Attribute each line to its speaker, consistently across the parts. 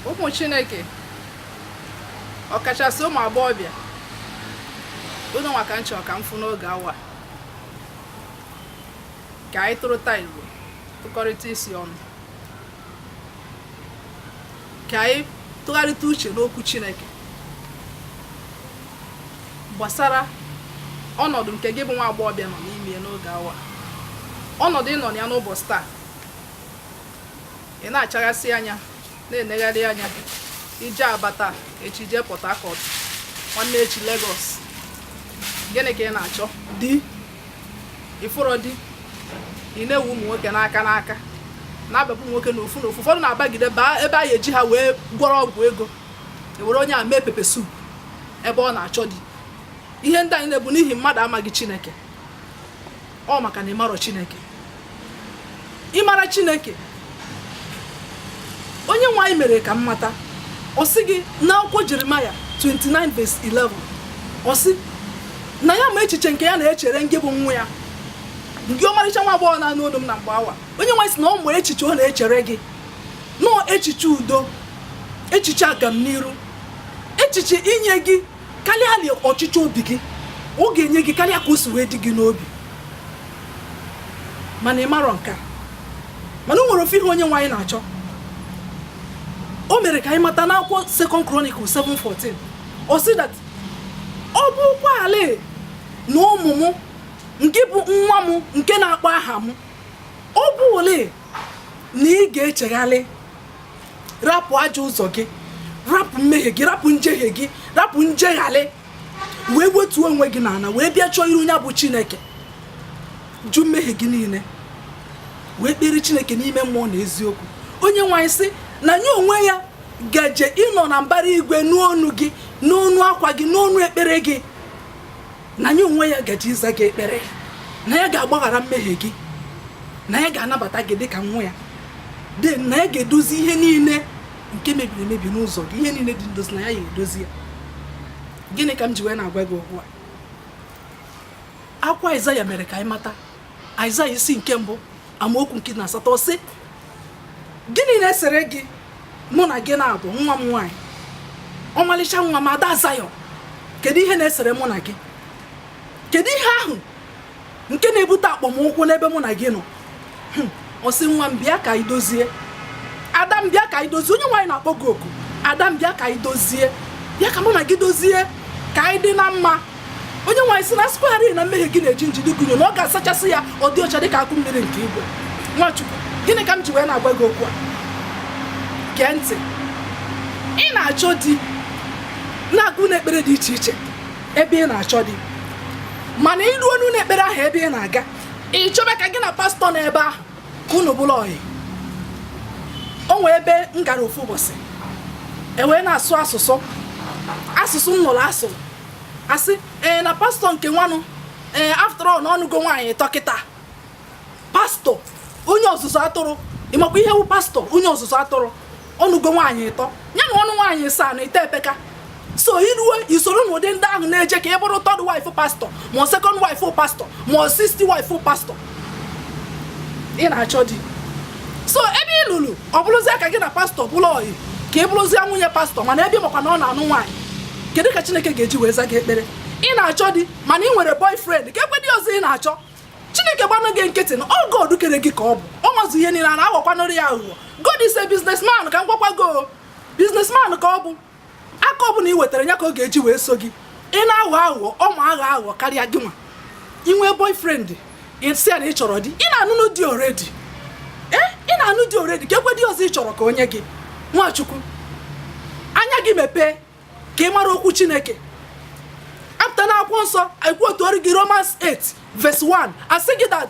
Speaker 1: ụmụ chineke ọkachasị ụmụ agbọghọbịa ụnụ nwa ka m chọ ka m fụ n'oge awa ka anyị tụrụta igbo tụkọrịta isi ọnụ ka anyị tụgharịta uche n'okwu chineke gbasara ọnọdụ nke gị bụ nwa agbọghọbịa nọ n'ime n'oge awa ọnọdụ ị nọ ya n'ụbọchị taa ị na-achaghasị anya na-enegharị anya i jee aba taa echi jee port harcourt nwanne echi lagos gịnị ka ị na-achọ di ị fụrọ di ị na-ewu ụmụ nwoke n'aka n'aka na-abịapụ nwoke n'ofu n'ofu ụfọdụ na-abagide baa ebe a ga-eji ha wee gwọrọ ọgwụ ego e were onye a mee pepper soup ebe ọ na-achọ di ihe ndị a niile bụ n'ihi mmadụ amaghị chineke ọ maka na ị marọ chineke ị mara chineke onye nwe anyị mere ka m mata ọ sị gị n'akwụkwọ jeremaya 29 verse 11 ọ sị na ya ma echiche nke ya na-echere ngị bụ nwa ya ngị ọmarịcha nwa agbọghọ na-anụ olu m na mgbe awa onye nwe anyị sị na ọ ma echiche ọ na-echere gị na ọ echiche udo echiche agamniru echiche inye gị karịarị ọchịchọ obi gị ọ ga-enye gị karịa ka o si wee dị gị n'obi mana ị marọ nke a mana o nwere ofu ihe onye nwe anyị na-achọ o mere ka anyị mata n'akwụkwọ Second Chronicle 7:14 ọ sị that ọ bụrụkwarị na ụmụ m ngị bụ nwa m nke na-akpọ aha m ọ bụrụrị na ị ga-echegharị rapụ ajọ ụzọ gị rapụ mmehie gị rapụ njehie gị rapụ njegharị wee wetuo onwe gị n'ala wee bịa chọọ iru onye bụ chineke jụ mmehie gị niile wee kpere chineke n'ime mmụọ na eziokwu onye nwe anyị sị na ya onwe ya gaje ịnọ na mbara igwe nụ onu gị nụ onu akwa gị nụ onu ekpere gị na ya onwe ya gaje ịza gị ekpere na ya ga-agbaghara mmehie gị na ya ga-anabata gị dịka nwa ya then na ya ga-edozi ihe niile nke mebiri emebi n'ụzọ gị ihe niile dị ndozi na ya ga-edozi ya gịnị ka m ji wee na-agwa gị okwu a akwụkwọ Aịzaya mere ka anyị mata Aịzaya isi nke mbụ amaokwu nke na asatọ sị gịnị na-esere gị mụ na gị na-abụ nwa m nwaanyị ọmalịcha nwa m ada Zayọn kedu ihe na-esere mụ na gị kedu ihe ahụ nke na-ebute akpọmụkwụ n'ebe mụ na gị nọ hmm, ọ sị nwa m bịa ka anyị dozie ada m bịa ka anyị dozie onye nwe anyị na-akpọ gị oku ada m bịa ka anyị dozie bịa ka mụ na gị dozie ka anyị dị na mma onyenwe anyị sị na a sịkwarị na mmehie gị na-eji nji dịka unyi na ọ ga-asachasị ya ọ dị ọcha dịka akụ mmiri nke igwe nwa chukwu gịnị ka m ji wee na-agwa gị okwu a gee ntị ị na-achọ di na-aga n'ekpere dị iche iche ebe ị na-achọ di mana i ruonụ n'ekpere ahụ ebe ị na-aga ị chọba ka gị na pastọ na ebe ahụ ka unu bụrụ ọyị o nwee ebe m gara ofu ụbọchị e wee na-asụ asụsụ asụsụ m nụrụ asụrụ a sị ee na pastọ nke nwanụ ee after all na ọ nụgo nwaanyị ịtọ kịta pastọ onye ọzụzụ atụrụ ị makwa ihe wu pastọ onye ọzụzụ atụrụ ọ nụgo nwaanyị ịtọ ya na ọnụ nwaanyị saa na ite epeka so i ruo i soro n'ụdị ndị ahụ na-eje ka ị bụrụ third wife pastọ ma second wife pastọ ma sixth wife pastọ ị na-achọ di so ebe i ruru ọ bụrụzie ka gị na pastọ bụrụ ọyị ka ị bụrụzie nwunye pastọ mana ebe ị makwa na ọ na-anụ nwaanyị kedu ka chineke ga-eji wee za gị ekpere ị na-achọ di mana ị nwere boyfriend keekwa di ọzọ ị na-achọ chineke gbanụ gị nkịtị na ọ god kere gị ka ọ bụ ọ mazu ihe niile a na-aghọkwanụrụ ya aghụghọ god is a businessman ka m gwakwa gị o businessman ka ọ bụ aka ọbụla ị wetara ya ka ọ ga-eji wee so gị ị na-aghọ aghụghọ ọ ma aghọ aghụghọ karịa gị nwa i nwee boyfriend ị sị ya na ị chọrọ di ị na-anụnụ di already ee eh, ị na-anụ di already keekwa di ọzọ ị chọrọ ka o nye gị nwa chukwu anya gị mepee ka ị mara okwu chineke after n'akwụkwọ nsọ e quote-ụọrọ gị romans 8 verse 1 a sị gị that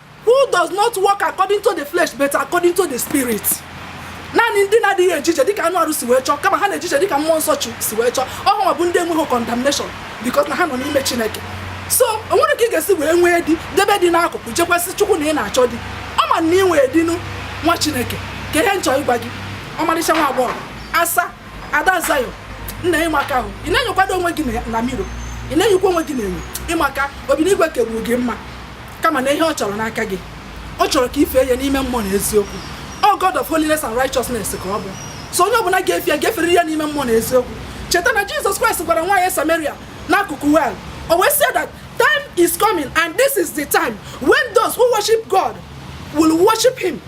Speaker 1: who does not walk according to the flesh but according to the spirit naanị ndị na-adịghị eje ije dịka anụ arụ si wee chọọ kama ha na-eje ije dịka mmụọ nsọ chi si wee chọọ ọ hanwa bụ ndị enweghị condemnation because na ha nọ n'ime chineke so o nwere ka ị ga-esi wee nwee di debe di n'akụkụ je gwazie chukwu na ị na-achọ di ọ ma na ị nwee di nụ nwa chineke kee ihe m chọ ịgwa gị ọmarịcha nwa agbọghọ asa ada zion na ị maka ahụ ị na-enyokwado onwe gị na mirror ị na-enyokwa onwe gị n'enyo ị maka obi n'igwe kegburu gị mma kama na ihe ọ chọrọ n'aka gị ọ chọrọ ka i fee ya n'ime mmụọ na eziokwu ọ God of holiness and righteousness ka ọ bụ so onye ọbụla ga-efe ya ga-efere ya n'ime mmụọ na eziokwu cheta na Jizọs Kraịst gwara nwaanyị Samaria n'akụkụ well o wee sị that time is coming and this is the time when those who worship God will worship him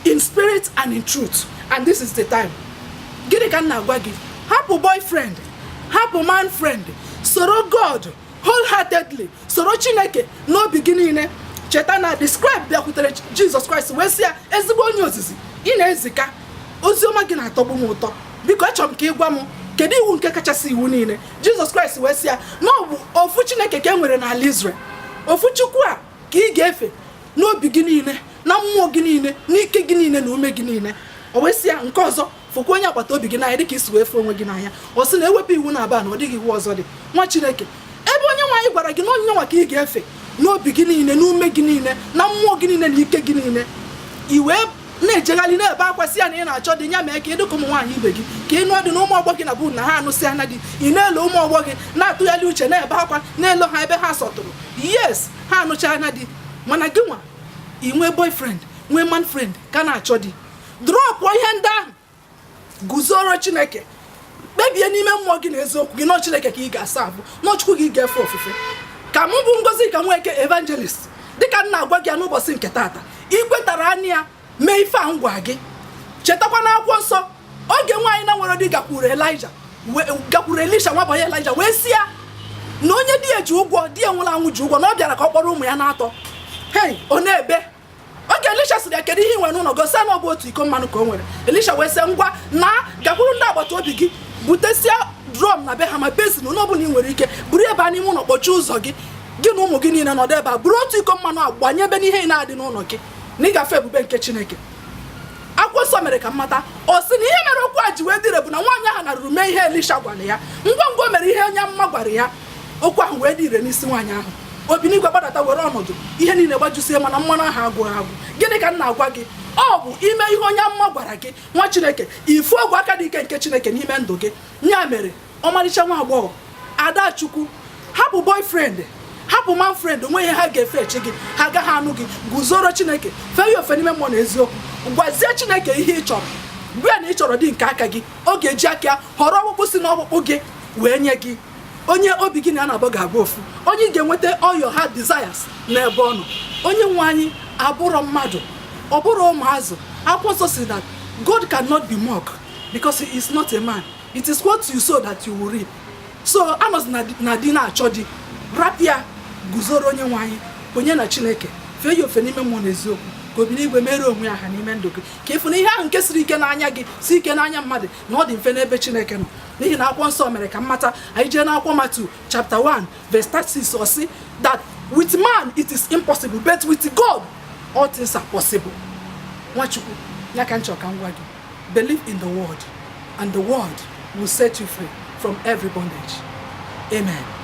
Speaker 1: in spirit and in truth and this is the time gịnị ka m na-agwa gị hapụ boyfriend hapụ man friend soro God wholeheartedly soro chineke n'obi gị niile cheta na the scribe bịakwutere jizọs kraịst wee sị ya ezigbo onye ozizi ị na-ezika ozi ọma gị na-atọgbu m ụtọ biko achọrọ m ka ị gwa m kedu iwu nke kachasị iwu niile jizọs kraịst wee sị ya na ọ bụ ofu chineke ka e nwere n'ala Israel ofu chukwu a ka ị ga-efe n'obi gị niile na mmụọ gị niile n'ike gị niile na ume gị niile o wee sị ya nke ọzọ fụkwa onye agbata obi gị n'anya dịka i si wee fụ onwe gị n'anya ọ sị na ewepụ iwu naabọ a na ọ dịghị iwu ọzọ dị nwa chineke ebe onye nwe anyị gwara gị na onye nwa ka ị ga-efe n'obi gị niile n'ume gị niile na mmụọ gị niile na ike gị niile i wee na-ejegharị na-ebe akwa sị ya na ị na-achọ di ya mee ka ị dị ka ụmụ nwaanyị ibe gị ka ị nụọ di na ụmụ ọgbọ gị na bụ na ha anụsị anya di ị na-ele ụmụ ọgbọ gị na-atụgharị uche na-ebe akwa na-ele ha ebe ha sọtụrụ yes ha anụcha anya di mana gị nwa ị nwee boyfriend nwee man friend ka na-achọ di drọpụ ihe ndị ahụ guzoro chineke kpebie n'ime mmụọ gị na eziokwu gị na ọ chineke ka ị ga-asa abụ na ọ chukwu ka ị ga-efe ofufe ka mụ bụ ngozika nweke evangelist dịka m na-agwa gị ya n'ụbọchị nke taata i kwetara anya ya mee ife a m gwa gị chetakwa na akwụkwọ nsọ oge nwaanyị na-enwerọ di gakwuru elija gakwuru elisha nwa bọyị elija wee sị ya na onye di ya ji ụgwọ di ya nwụrụ anwụ ji ụgwọ na ọ bịara ka ọ kpọrọ ụmụ ya naatọ hei ọ na-ebe oge elisha sịrị ya kedu ihe i nwere n'ụlọ gị ọ sị na ọ bụ otu iko mmanụ ka o nwere elisha wee sị ngwa naa gakwuru ndị agbata obi gị butesia drum na be ha ma basin nke ọbụla ị nwere ike buru baa n'ime ụlọ kpọchie ụzọ gị gị na ụmụ gị niile nọdụ ebe a buru otu iko mmanụ a gbanyebe n'ihe niile dị n'ụlọ gị na ị ga-afụ ebube nke chineke akwụkwọ nsọ mere ka m mata ọ sị na ihe mere okwu a ji wee dị ire bụ na nwaanyị ahụ naruru mee ihe elisha gwara ya ngwa ngwa o mere ihe onye amụma gwara ya okwu ahụ wee dị ire n'isi nwaanyị ahụ obi n'igwe gbadata were ọnọdụ ihe niile gbajusie mana mmanụ ahụ agwụghị agwụ gịnị ka m na-agwa gị ọ bụ ime ihe onye amụma gwara gị nwa chineke ị fụ ogwe aka dị ike nke chineke n'ime ndụ gị ya mere ọmarịcha nwa agbọghọ adachukwu hapụ boyfriend hapụ man friend o nwe ihe ha ga-efechi gị ha agaghị anụ gị guzoro chineke fee ya ofe n'ime mmụọ na eziokwu gwazie chineke ihe ị chọrọ gwa ya na ị chọrọ di nke aka gị ọ ga-eji aka họrọ ọkpụkpụ si n'ọkpụkpụ gị wee nye gị onye obi gị na ya na-abụ ga-abụ ofu onye ị ga-enweta all your heart desires n'ebe ọ nọ onye nwe anyị abụrọ mmadụ ọ bụrọ ụmụazị akwụkwọ nsọ sị that God cannot be mocked because he is not a man it is what you sow that you will reap so anọzina di na-achọ di rapụ ya guzoro onye nwe anyị onye na chineke fee ya ofe n'ime mmụọ na eziokwu ka obi n'igwe mere onwe ya aha n'ime ndụ gị ka ị fụ na ihe ahụ nke siri ike n'anya gị si ike n'anya mmadụ na ọ dị mfe n'ebe chineke nọ n'ihi na akwụkwọ nsọ mere ka m mata anyị jee n'akwụkwọ matthew chapter 1 verse 36 ọ sị that with man it is impossible but with god all things are possible nwa chukwu ya ka m chọ ka m gwa gị believe in the word and the word will set you free from every bondage amen